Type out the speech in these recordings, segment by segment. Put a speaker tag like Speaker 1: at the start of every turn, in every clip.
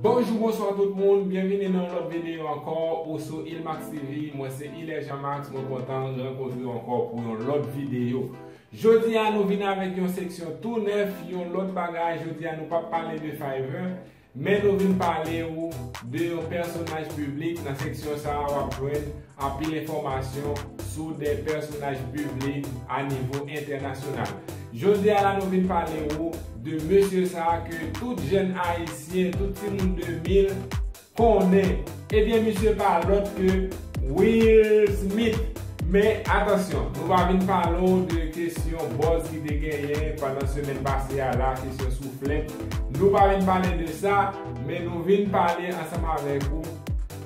Speaker 1: Bonjou bonswa tout moun, byenvini nan yon lòt videyo ankò ou sou Ilmax TV, mwen se Hilaire Jean Max, mwen kontan rankontrew ankò pou yon lòt videyo. Jodi a nou vin avèk yon seksyon tou nèf, yon lòt bagay, jodi a nou pap pale de Fiverr, men nou vin pale ou de yon pèsonaj piblik, nan seksyon sa a wap jwenn anpil enfòmasyon sou de pèsonaj piblik a nivo entènasyonal. Jodi a la nou vin pale ou de mesye sa ke tout jèn ayisyen, tout timoun 2000 konnen. Ebyen misye pa lòt ke Will Smith. Men atansyon, nou va vin pale ou de kesyon buzz ki te genyen pandan semèn pase a la, kesyon souflèt. Nou pa vin pale de sa, men nou vin pale ansanm avèk ou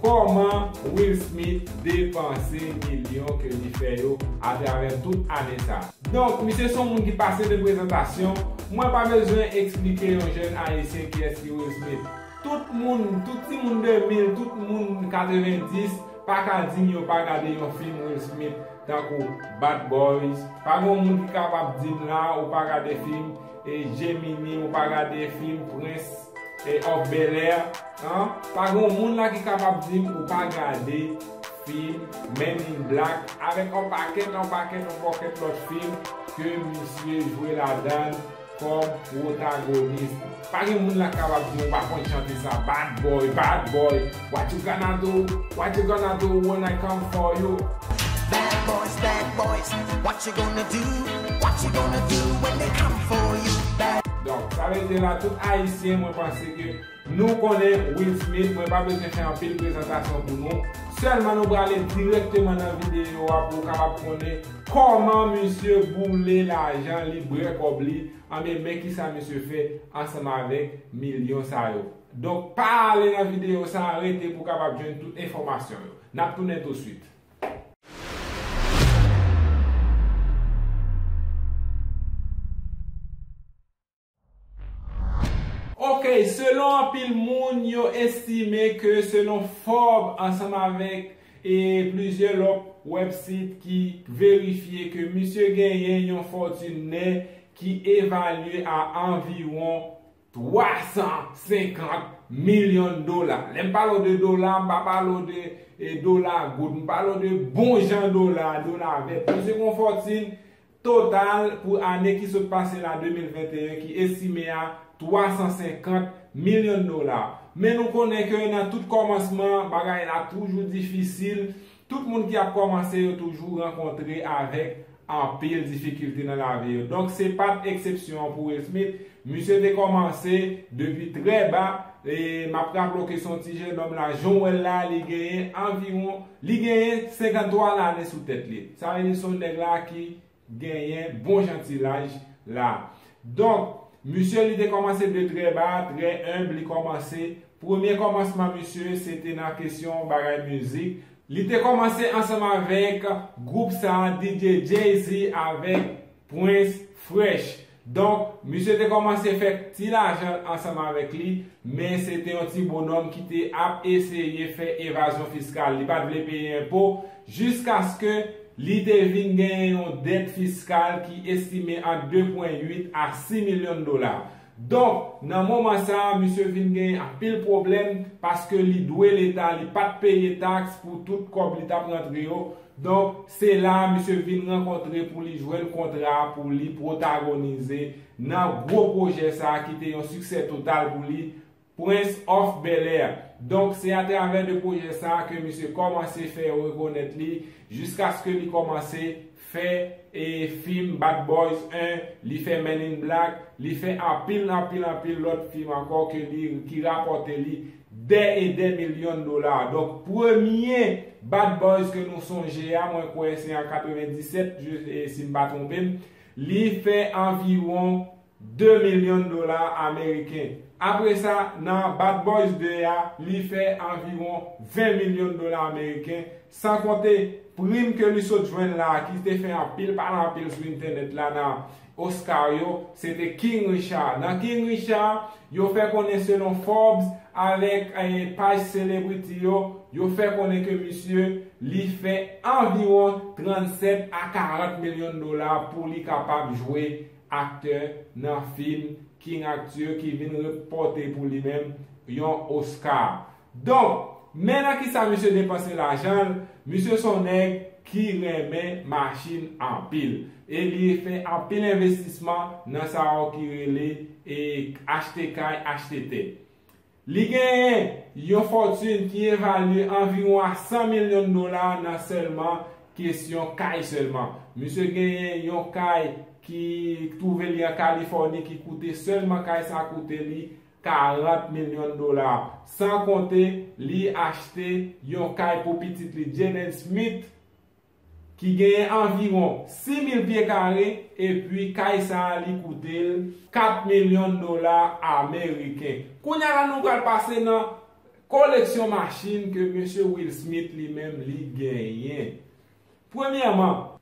Speaker 1: Kòman Will Smith depanse milyon ke li fè yo atravè tout ane sa? Donk, misye son moun ki pase de prezantasyon, mwen pa bezwen eksplike yon jèn ayisyen kiyès ki Will Smith. Tout moun, tout timoun 2000, tout moun 90 pa ka di m yo pa gade yon fim Will Smith tankou Bad Boys, pa gon moun ki kapab di m la ou pa gade fim E Gemini ou pa gade film prince of bel air an pa gon moun la ki kapab dim ou pa gade film men in black avek yon pakèt yon pakèt yon pakèt lot film ke misye jwe ladann kom protagonist pa gen moun la kapab dim ou pa konn chante sa bad boy bad boy. What you gonna do, what you gonna do when I come for you. Bad boys,
Speaker 2: bad boys, what you gonna do, what you gonna do when they come for you. Bad. Donk sa vle
Speaker 1: di la tout ayisyen mwen panse ke nou konnen Will Smith mwen pa bezwen fè anpil prezantasyon pou nou sèlman nou prale direkteman nan videyo a pou ou kapab konnen kòman misye boule lajan li brè kòb li anben men kisa misye fè ansanm avèk milyon sa yo. Donk pa ale nan videyo sa a rete pou kapab jwenn tout enfòmasyon yo. N ap tounen touswit. Ok selon anpil moun yo estime ke selon Fob ansanm avèk e plizyè lòt wèb sit ki verifye ke misye genyen yon fòtune nè ki evalye a anviwon 350 million dola. Lè m pale w de dola, m pa pale w de dola goud. M pale w de bon jan dola, dola vèt. Li se yon fòtin total pou ane ki sot pase la, 2021, ki estime a 350 million dola. Men nou konnen ke nan tout kòmansman, bagay la toujou difisil. Tout moun ki ap kòmanse yo toujou rankontre avèk anpil difikilte nan lavi yo. Donk se pa t eksepsyon pou Will Smith. Misye te kòmanse depi trè ba. E m ap raple w ke se yon ti jenòm la. Jan w wè l la, li genyen anviwon, li genyen 53 lane sou tèt li. Sa vle di se yon nèg la ki genyen bon jan ti laj la. Donk, misye li te kòmanse de trè ba, trè enb li kòmanse. Premye kòmansman misye se te nan kesyon bagay mizik. Li te kòmanse ansanm avèk gwoup sa DJ Jay-Z avèk Prince Fresh. Donk, misye te kòmanse fè ti lajan l ansanm avèk li, men se te yon ti bonòm ki te ap eseye fè evazyon fiskal, li pa t vle peye enpo, jiskaske li te vin genyen yon dèt fiskal ki estime ant 2 pwen 8 a 6 milyon dola. Donk, nan moman sa a, misye vin genyen anpil pwoblèm, paske li dwe Leta, li pa t peye taks pou tout kòb li t ap rantre yo, Donk, se la a misye vin rankontre pou li jwenn kontra pou li pwotagonize nan gwo pwojè sa a ki te yon siksè total pou li, Prince of Bel-Air. Donk, se atravè de pwojè sa a ke misye kòmanse fè yo rekonèt li jiskaske li kòmanse fè e fim Bad Boys 1, li fè Men in Black, li fè anpil, anpil, anpil lòt fim ankò ke li ki rapòte li Dè e dè milyon dola. Donk premye Bad Boys ke nou sonje a, mwen kwè se an 97, si m pa twonpe m, li fè anviwon 2 milyon dola ameriken. Apre sa, nan Bad Boys 2 a, li fè anviwon 20 milyon dola ameriken, San konte, prim ke li sot jwenn la a ki te fè anpil pale anpil sou entènèt la nan Oscar yo, se te King Richard. Nan King Richard, yo fè konnen selon Forbes avèk paj celebrity yo, yo fè konnen ke misye li fè anviwon 37 a 40 milyon dola pou li kapab jwe aktè nan fim King Arthur ki vin repòte pou li menm yon Oscar. Donk, men nan kisa misye depanse lajan l, misye son nèg ki renmen machin anpil. E li fè anpil envestisman nan sa yo ki rele e achte kay, achte tè. Li genyen yon fòtune ki evalye anviwon a 100 milyon dola nan sèlman kesyon kay sèlman. Misye genyen yon kay ki twouve li an Kalifòni ki koute sèlman kay sa koute li 40 milyon dola, san konte li achte yon kay pou pitit li Jaden Smith ki genyen anviwon 6 mil pye kare epi kay sa a li koute l 4 milyon dola ameriken. Kounye a la nou pral pase nan koleksyon machin ke mesye Will Smith li menm li genyen. Premyèman.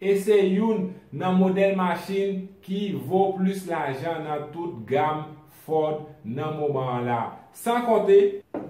Speaker 1: E se youn nan modèl machin ki vo plis lajan nan tout gam Ford nan moman an la. San konte,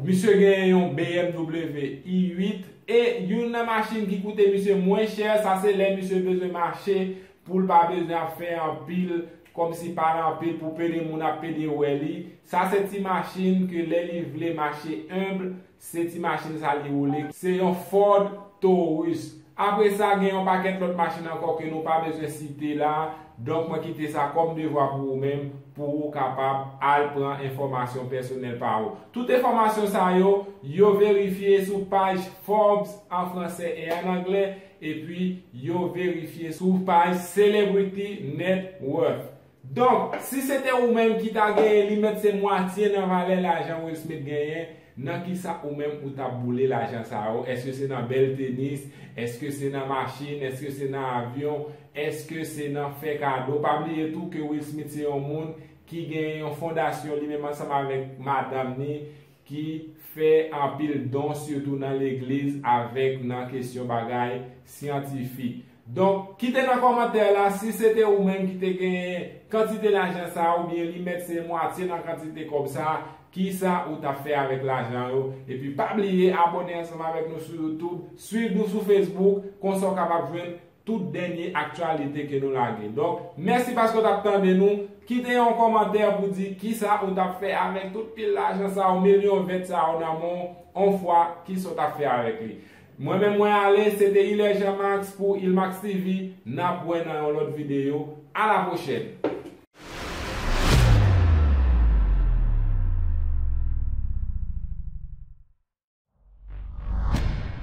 Speaker 1: misye genyen yon BMW i 8 e youn nan machin ki koute misye mwen chè sa se lè misye bezwen mache pou l pa bezwen ap fè anpil kòm si pa l anpil pou pede moun ap pede wè li. Sa se ti machin ke lè li vle mache humble Se ti machin sa li woule. Se yon Ford Taurus. Apre sa, gen yon pakèt lòt machin ankò ke nou pa bezwen site la, donk mwen kite sa kòm devwa pou ou menm, pou ou kapab al pran enfòmasyon pèsonèl pa ou. Tout enfòmasyon sa yo, yo verifye sou paj Forbes an franse e an angle, epi yo verifye sou paj Celebrity Net Worth. Donk, si se te ou menm ki ta genyen li mèt se mwatye nan valè lajan Will Smith genyen, nan kisa ou menm ou tap boule lajan sa yo, eske se nan bèl tenis, eske se nan machin, eske se nan avyon, eske se nan fè kado, pa bliye tou ke Will Smith se yon moun ki genyen yon fondasyon li menm ansanm avèk madanm ni ki fè anpil don sitou nan legliz avèk nan kesyon bagay syantifik. Donk, kite nan kòmantè la si se te ou menm ki te genyen kantite lajan sa a oubyen li mèt se mwatye nan kantite kòb sa a, kisa ou ta fè avèk lajan yo. Epi pa bliye abòne ansanm avèk nou sou YouTube, swiv nou sou Facebook, konsa w kapab jwenn tout dènye aktyalite ke nou lage. Donk, mèsi paske w t ap tande nou. Kite yon kòmantè pou di kisa ou t ap fè avèk tout pil lajan sa yo, milyon vèt sa yo nan men w, on fwa, kisa w t ap fè avèk li. Mwen menm mwen ale, se te Hilaire Jean Max pou Hilmax TV. N ap wè nan yon lòt videyo. A la pwochèn!